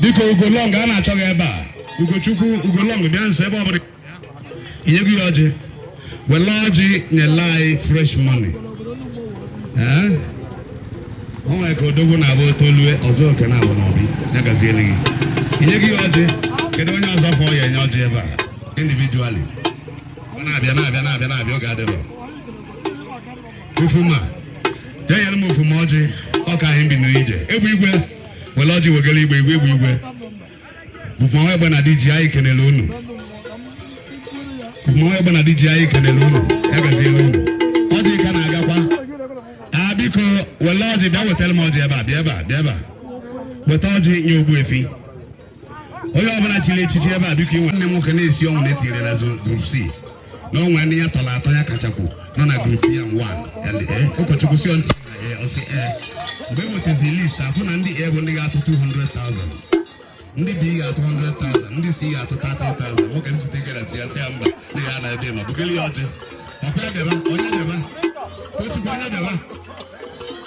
dịka ugolong a na-achọ gị ebe a ugochukwu ugolong bịa nso ebe ọ bụla inye gị ya ọjị wele ọjị nyela anyị fresh money o nwere ka odogwu na-abụ otolue ọzọ oke na-abụ n'obi ya gaziele gị inye gị ya ọjị kedu onye ọzọ fọ ya-enye ọjị ebe a individually na-abịa na-abịa na-abịa na-abịa oge adịrọ ofuma jee yere m ofuma ọjị ọka anyị bi n'ije egbe igwe were ọjị wegara igbe igwe egbe igwe ofuma egbe na diji anyị kenere unu ofuma egbe na diji anyị kenere unu ya gaziere unu ọjị ka na-agakwa a biko were ọjị bịa wetara m ọjị ebe a bịa ebe a bịa ebe a weta ọjị nye ogbuefi onye ọbụla chiri echichi ebe a biko e nwe nne nwoke na-esi ọnwụ na e tinyere na group C na o nwe ndị ya tọrọ atọ ya kachapụ nọ na group A nwa eh, ụkọchukwu sị ntị eh, ọ sị eh. mgbe e nwetazi list afụ na ndị A bụ ndị ga-atụ 200,000 ndị B ga-atụ 100,000 ndị C ga-atụ 30,000 nwoke site gara sị ya sị ya mba na ya na ebe ma bụgịrị ya ọjị ọkwa ya bịaba onye bịaba tochukwu onye bịaba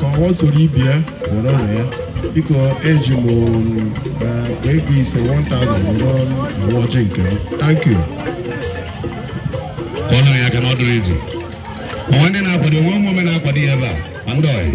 ka ọghọ soro ibe ya were ụlọ ya biko eji m akpa ego ise 1000 were awa ọjị nke m thank you ka ọ nọ ya ka na ọ dụrọ easy o nwe ndị na-akwado o nwe ụmụ ome na-akwado ya ebe a ma ndị ọyị